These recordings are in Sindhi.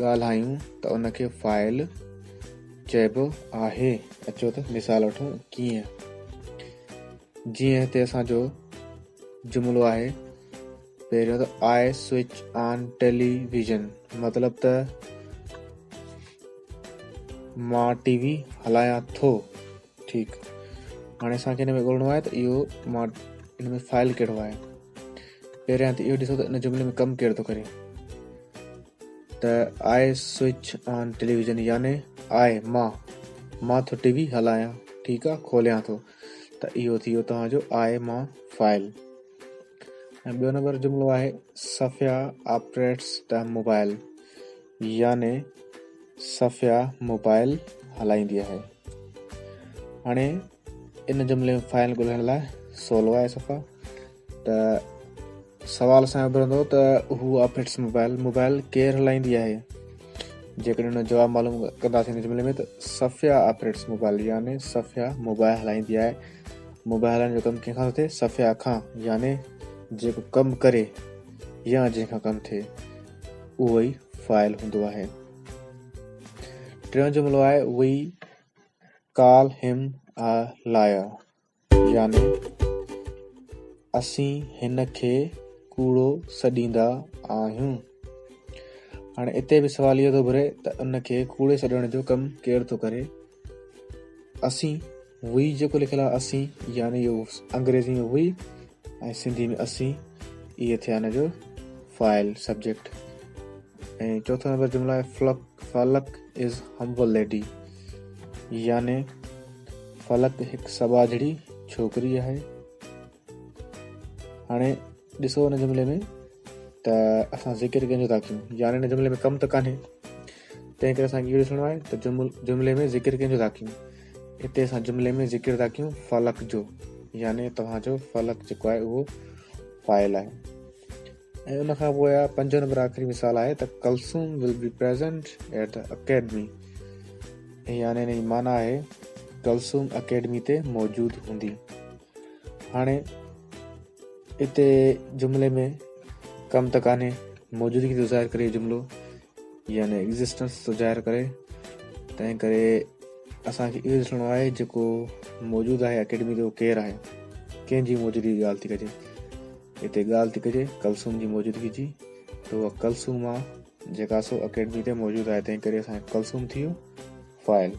ڳالهايون ته ان کي فاعل چئبو آهي اچو ته مثال وٺون ڪيئن جيئن هتي اسان جو جملو آهي پهريون ته I switch on television مطلب ته مان ٽي وي هلايان ٿو ٺيڪ هاڻي اسان کي هن ۾ ڳولڻو آهي ته اهو مان هن ۾ فائل ڪهڙو آهي پهريان ته اهو ڏسو ته ان جملي ۾ ڪم ڪير ٿو ڪري ته آء سوئچ آن ٽيليويزن يعني آء مان مان ٿو ٽي وي هلايان ٺيڪ آهي کوليان ٿو ته اهو ٿي ويو توهان جو آء مان فائل ۽ ٻيو نمبر جملو آهي صفيا آپريٽس دا موبائل يعني صفيا موبائل هلائيندي آهي هاڻي ان جملي ۾ فائل ڳولهڻ لاء سولو آهي صفا ته سوال اسان جو ڀرندو ته هو آپريٽس موبائل موبائل ڪير هلائيندي آهي جيڪڏهن ان جواب معلوم ڪنداسين ان جملي ۾ ته صفيا آپريٽس موبائل يعني صفيا موبائل هلائيندي آهي موبائل هلائڻ جو ڪم ڪنهن کان ٿئي صفيا کان يعني جيڪو ڪم ڪري يا جنهن کان ڪم ٿئي اهو ئي فائل هوندو آهي ٽيون جملو آهي We call him a liar يعني اسين هن کي ڪوڙو سڏيندا آهيون. هاڻي اتي به سوال اهو ٿو گهري ته ان کي ڪوڙي سڏڻ جو ڪم ڪير ٿو ڪري اسين، وي جيڪو لکيل آهي اسين يعني اهو انگريزي ۾ وي ۽ سنڌي ۾ اسين اهي ٿيا ان جو فائل سبجيڪٽ ۽ چوٿو نمبر جملو آهي Falak Falak is humble lady يعني فلڪ هڪ سٻاجهڙي ڇوڪري آهي هاڻي ڏسو ان جملي ۾ ته اسان ذڪر ڪنهن جو ٿا ڪيون يعني ان جملي ۾ ڪم ته ڪانهي تنهن ڪري اسانکي اهو ڏسڻو آهي ته جملي ۾ ذڪر ڪنهن جو ٿا ڪيون هتي اسان جملي ۾ ذڪر ٿا ڪيون فلق جو يعني توهان جو فلق جيڪو آهي اهو فائل آهي ۽ ان کان پوء آهي پنجو نمبر آخري مثال آهي ته Kulsoom will be present at the academy يعني ان جي معنی آهي کلسوم اڪيڊمي تي موجود هوندي هاڻي اتي جملي ۾ ڪم ته ڪانهي، موجودگي ٿو ظاهر ڪري جملو يعني ايگزسٽنس ٿو ظاهر ڪري تنهن ڪري اسان کي اهو ڏسڻو آهي جيڪو موجود آهي اڪيڊمي تي اهو ڪير آهي ڪنهن جي موجودگي جي ڳالهه ٿي ڪجي هتي ڳالهه ٿي ڪجي ڪلسوم جي موجودگي جي ته اها ڪلسوم آهي جيڪا سو اڪيڊمي تي موجود آهي تنهن ڪري اسان کي ڪلسوم ٿي ويو فائل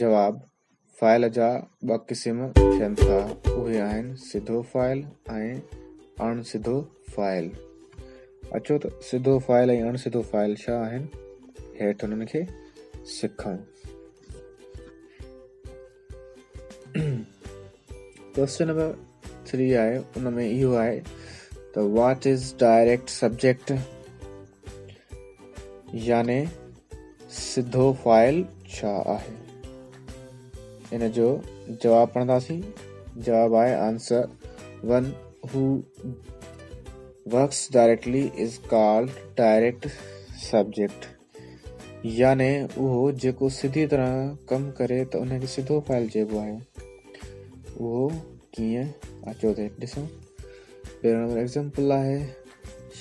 جواب، فاعل جا ٻه قسم ٿين ٿا، اهي آهن سڌو فاعل ۽ اڻ سڌو فاعل. اچو ته سڌو فاعل ۽ اڻ سڌو فاعل ڇا آهن، هيٺ انهن کي سکون. ڪويسچن نمبر ٿري آهي ان ۾ اهو آهي ته واٽ از ڊائريڪٽ سبجيڪٽ يعني سڌو فائل ڇا آهي ان جو جواب پڙهنداسين جواب آهي answer one who works directly is called direct subject يعني اهو جيڪو سڌي طرح ڪم ڪري ته ان کي سڌو فاعل چئبو آهي. اهو ڪيئن؟ اچو ته ڏسون. پهريون نمبر ايگزامپل آهي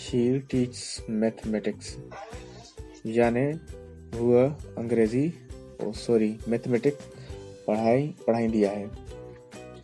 شي ٽيچس ميٿميٽڪس يعني هو انگريزي او سوري ميٿميٽڪ پڙهائي پڙهائيندي آهي.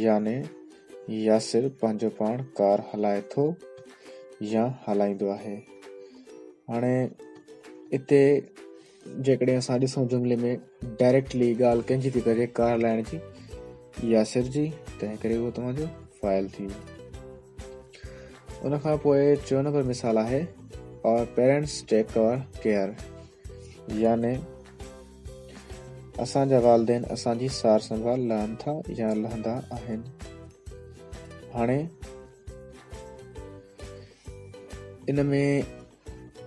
يعني ياسر پنهنجو پاڻ ڪار هلائي ٿو يا هلائيندو آهي. هاڻي اتي جيڪڏهن اسان ڏسون جملي ۾ ڊائريڪٽلي ڳالهه ڪنهن جي ٿي ڪجي ڪار هلائڻ جي ياسر جي تنهن ڪري اهو توهان جو فائل ٿي ويو ان کان پوء چو نمبر مثال آهي our parents take car care يعني اسان جا والدين اسان جي سار سنڀال لهن ٿا يا لهندا آهن. هاڻي ان ۾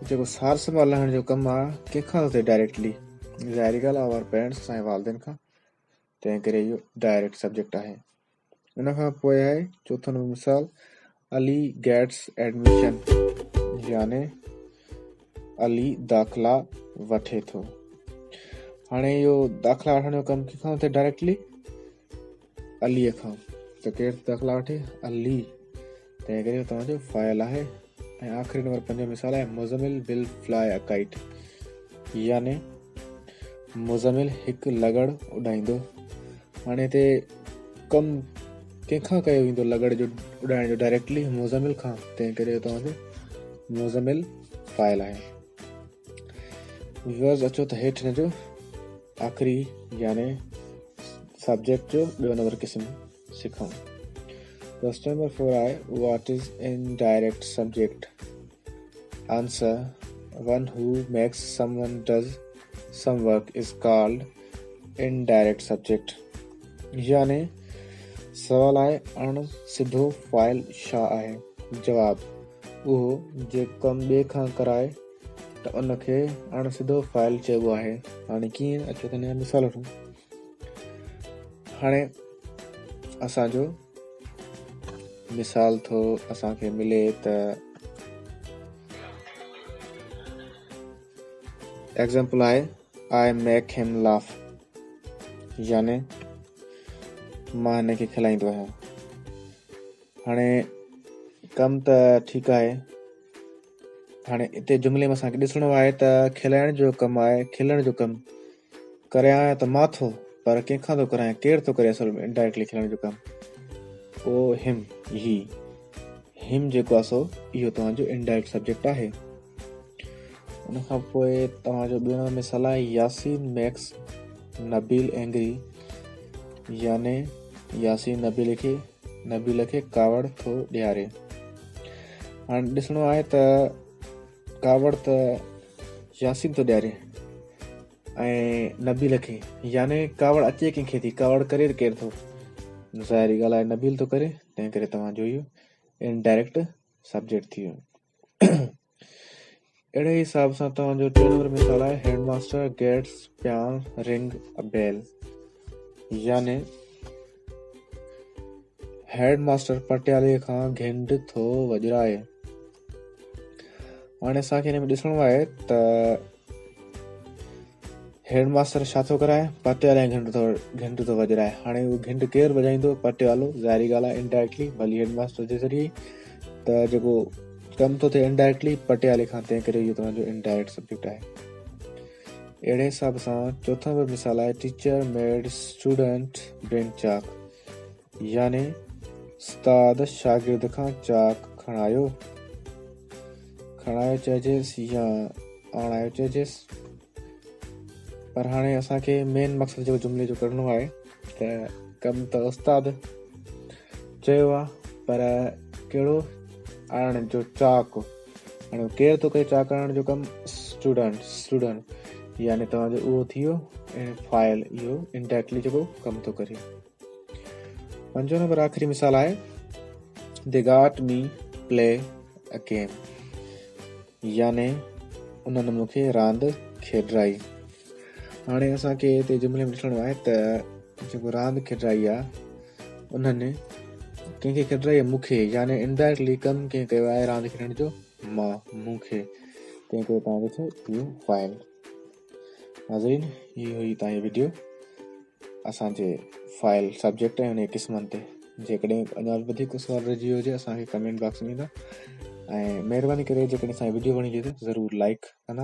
جيڪو سار سنڀال لهڻ جو ڪم آ ڪنهن کان ٿو ڊائريڪٽلي ظاهري ڳالهه آور پيرنٽس سائين والدين کان تنهن ڪري اهو ڊائريڪٽ سبجيڪٽ آهي ان کان پوء آهي چوٿون نمبر مثال علي گيٽس ايڊميشن يعني علي داخلا وٺي ٿو هاڻي اهو داخلا وٺڻ جو ڪم ڪٿان ٿي ڊائريڪٽلي علي کان ته ڪير داخلا وٺي علي تنهن ڪري اهو توهان جو فاعل آهي ۽ آخري نمبر پنجون مثال آهي مزمل بل فلائي اڪائيٽ يعني مزمل هڪ لڳڙ اڏائيندو هاڻي هتي ڪم ڪنهن کان ڪيو ويندو لڳڙ جو اڏائڻ جو ڊائريڪٽلي مزمل کان تنهن ڪري توهان جو مزمل فائل آهي ويورز اچو ته هيٺ هن جو آخري يعني سبجيڪٽ جو ٻيو نمبر قسم سکن customer four I what is indirect subject answer one who makes someone does some work is called indirect subject يعني سوال آء اڻ سڌو فائل شا آهي جواب اهو جي ڪم ٻي کان ڪرائي ته ان کي اڻ سڌو فائل چئبو آهي هاڻي ڪيئن اچو ته مثال وٺون هاڻي اسان جو مثال ٿو اسان کي ملي ته ایگزامپل آهي آء ميڪ هيم لاف يعني مان هن کي کلائيندو آهيان هاڻي ڪم ته ٺيڪ آهي هاڻي اتي جملي ۾ اسان کي ڏسڻو آهي ته کلائڻ جو ڪم آهي کلڻ جو ڪم ڪريان ته مان ٿو پر ڪنهن کان ٿو ڪرايان ڪير ٿو ڪري اصل ۾ انڊائريڪٽلي کلڻ جو ڪم او هيم هي هيم جيڪو آهي سو اهو توهان جو انڊائريڪٽ سبجيڪٽ آهي ان کان پوء توهان جو ٻيو نمبر مثال آهي ياسين ميڪس نبيل اينگري يعني ياسين نبيل کي نبيل کي ڪاوڙ ٿو ڏياري هاڻي ڏسڻو آهي ته ڪاوڙ ته ياسين ٿو ڏياري ۽ نبيل کي يعني ڪاوڙ اچي ڪنهن کي ٿي ڪاوڙ ڪري ڪير ٿو ظاهري ڳالهه آهي نبيل ٿو ڪري تنهن ڪري توهان جو اهو انڊائريڪٽ سبجيڪٽ ٿي ويو اهڙي ئي حساب سان توهان جو ٽيون نمبر مثال آهي head master gets peon ring a bell يعني هيڊ ماسٽر پٽيالي کان گهنڊ ٿو وڄرائي هاڻي اسان کي هن ۾ ڏسڻو آهي ته هيڊ ماستر ڇا ٿو ڪرائي؟ پٽي والي گهنٽ ٿو گهنٽ ٿو وڄرائي. هاڻي اهو گهنٽ ڪير وڄائيندو؟ پٽي والو. ظاهري ڳالهه آهي انڊائريڪٽلي ڀلي هيڊ ماستر جي ذريعي ته جيڪو ڪم ٿو ٿئي انڊائريڪٽلي پٽي والي کان تنهن ڪري اهو توهان جو انڊائريڪٽ سبجيڪٽ آهي. اهڙي حساب سان چوٿون به مثال آهي teacher made student bring chalk يعني استاد شاگرد کان چاڪ کڻايو، کڻايو چئجيس يا آڻايو چئجيس پر هاڻي اسان کي مين مقصد جو جملي جو ڪرڻو آهي ته ڪم ته استاد چيو آ پر ڪهڙو آڻڻ جو چاڪ هاڻي ڪير ٿو ڪري چاڪ آڻڻ جو ڪم اسٽوڊنٽ اسٽوڊنٽ يعني توهان جو اهو ٿي ويو فائل اهو انڊائريڪٽلي جيڪو ڪم ٿو ڪري پنجون نمبر آخري مثال آهي the got me play a game يعني انهن مون کي راند کيڏرائي هاڻي اسان کي هتي جملي ۾ ڏسڻو آهي ته جيڪو راند کيڏرائي آهي انهن ڪنهن کي کيڏرائي مون کي يعني انڊائريڪٽلي ڪم ڪنهن ڪيو آهي راند کيڏڻ جو مان مون کي تنهن ڪري تنهن جو ٿيو اهو فائل ناظرين هي هئي تائين ويڊيو اسان جي فائل سبجيڪٽ ۽ انهي قسمن تي جيڪڏهن اڃا به وڌيڪ سوال رهجي ويو هجي اسان کي ڪمينٽ باڪس ۾ ڏيندا ۽ مهرباني ڪري جيڪڏهن اسان جي ويڊيو وڻي هجي ته ضرور لائڪ ڪندا